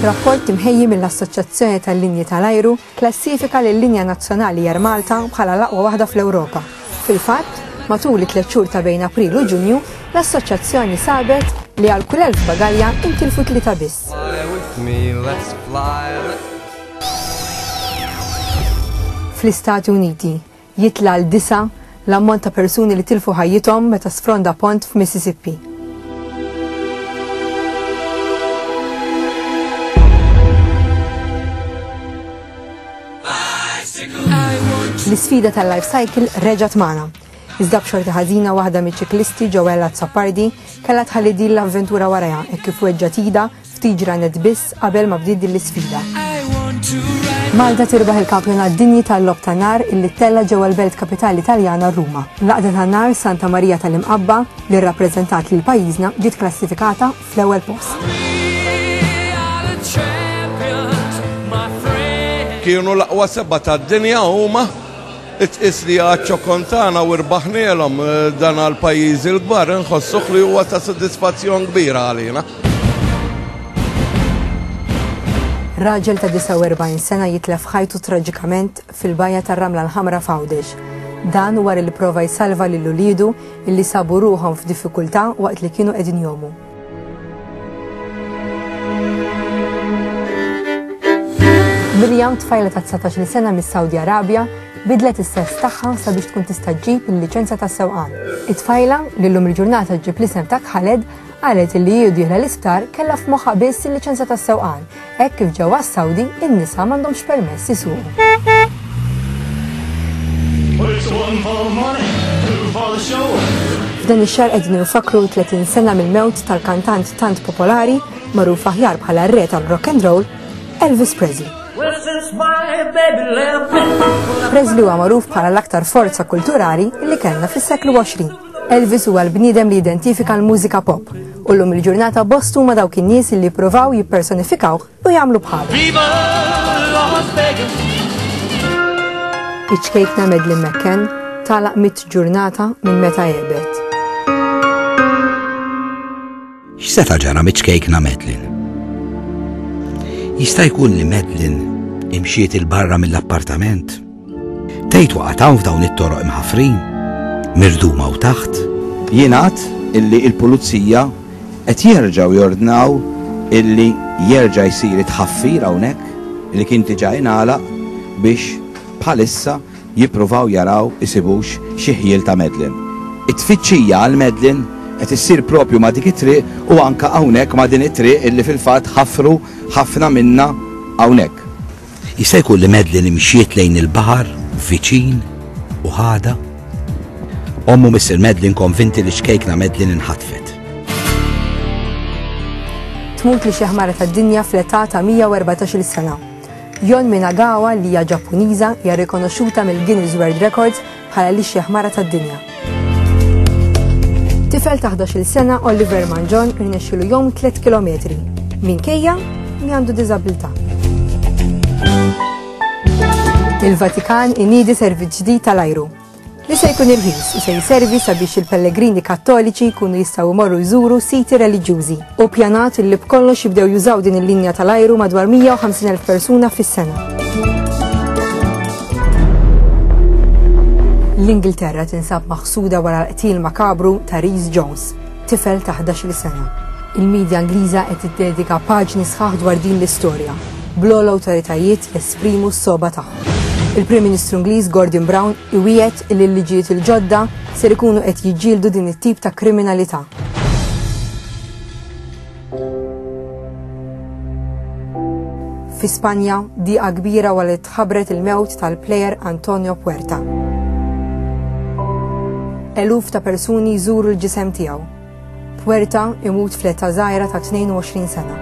Rapport imħejji mill-Assoċjazzjoni tal-Linji tal-Ajru klassifika lil linja nazzjonali Air Malta bħala l-aqwa waħda fl-Ewropa. Fil-fatt, matul it-tliet xhur ta' bejn April u Ġunju, l-Assoċjazzjoni sabet li għal kull elf bagalja intilfu tlieta biss. Fl-Istati Uniti jitla' l disa' l-ammont ta' persuni li tilfu ħajjithom meta sfronda pont f'Mississippi. L-isfida tal-life cycle reġat magħna. Iżda b'xorti ħażina waħda miċ-ċiklisti Joella Zappardi kellha tħalli din l-avventura warajha hekk kif weġġa' tida Ftit ġranet biss qabel ma bdiet din l-isfida. Malta tirbaħ il-kampjonat dinji tal-lob ta' nar illi tella ġewwa l-belt kapitali Taljana Ruma. L-għaqda ta' nar Santa Marija tal-Imqabba li rrappreżentat lil pajjiżna ġiet klassifikata fl-ewwel post. Kienu l-aqwa seba' tad-dinja huma Tqis li għad ċokon tagħna u rbaħnielhom dan għall-pajjiżi l-kbar inħossuh li huwa ta' sodisfazzjon kbira għalina. Raġel ta' 49 sena jitlef ħajtu traġikament fil-bajja tar-Ramla l-Ħamra f'Għawdex. Dan wara li pprova jsalva lil uliedu illi sabu ruħhom f'diffikultà waqt li kienu qegħdin jgħumu. Mirjam tfajla ta' 19 sena mis-Saudi Arabia bidlet is-sess tagħha sabiex tkun tista' ġġib il-liċenza ta' sewqan. It-tfajla li llum il-ġurnata ġġib l-isem ta' Khaled qalet li hi dieħla l-isptar kellha f'moħħa biss il-liċenza ta' sewqan Hekk kif ġewwa s-Sawdi in-nisa m'għandhomx permess isuqu. F'dan ix-xahar qegħdin infakkru 30 sena mill-mewt tal-kantant tant popolari, magħruf aħjar bħala r-re tal-rock and roll, Elvis Presley. Presley huwa magħruf bħala l-aktar forza kulturali li kellna fis-seklu 20. Elvis huwa l-bniedem li jidentifika l-mużika pop u llum il-ġurnata bost huma dawk in-nies li jippruvaw jippersonifikawh u jagħmlu bħalu. Iċ-ċkejkna Medlin McCann tagħlaq mit ġurnata minn meta jebet. X'seta' ġara miċ-ċkejkna Madeline? Jista' jkun li Madeline imxiet 'il barra mill-appartament? Tgħid waqgħet hawn f'dawn it-toroq imħaffrin, mirduma hawn taħt? Jingħad illi l-Pulizija qed jerġgħu jordnaw illi jerġa' jsir it-tħaffir hawnhekk li kien diġà ingħalaq biex bħalissa jippruvaw jaraw isibux xi ħjiel ta' Madeline. It-tfittxija għal Madeline qed issir propju ma' dik it-triq u anke hawnhekk ma' din it-triq illi fil-fatt ħafru ħafna minnha hawnhekk. Jista' jkun li Madeline imxiet lejn il-baħar viċin u ħadha? Omm u missier Madeline konvinti li ċkejkna Madeline inħatfet. Tmut li xi ħmara tad-dinja fl-età ta' 114-il sena. Yon Minagawa li hija Ġappuniża hija rrikonoxxuta mill-Guinness World Records bħala l-ixjaħ mara tad-dinja. Tifel ta' 11-il sena Oliver Manjon irnexxielu jgħum tliet kilometri minkejja li għandu diżabilità. Il-Vatikan iniedi servizz ġdid tal-ajru. li se jkun irħis u se jservi sabiex il-pellegrini Kattoliċi jkunu jistgħu jmorru jżuru siti reliġjużi. Hu ppjanat li b'kollox jibdew jużaw din il-linja tal-ajru madwar 150,000 persuna fis-sena. L-Ingilterra tinsab maħsuda wara l-qtil makabru ta' Rees Jones, Tifel ta' ħdax-il sena. Il-midja Ingliża qed tiddedika paġni sħaħ dwar din l-istorja, bl-ogħla awtoritajiet jesprimu s-sogħba tagħhom. Il-Prim Ministru Ingliż Gordon Brown iwiegħed li l-liġijiet il-ġodda ser ikunu qed jiġġieldu din it-tip ta' kriminalità. Fi Spanja, diqa kbira wara li tħabbret il-mewt tal-plejer Antonio Puerta. Eluf ta' persuni jżuru l-ġisem tiegħu. Puerta imut fl-età żgħira ta' 22 sena.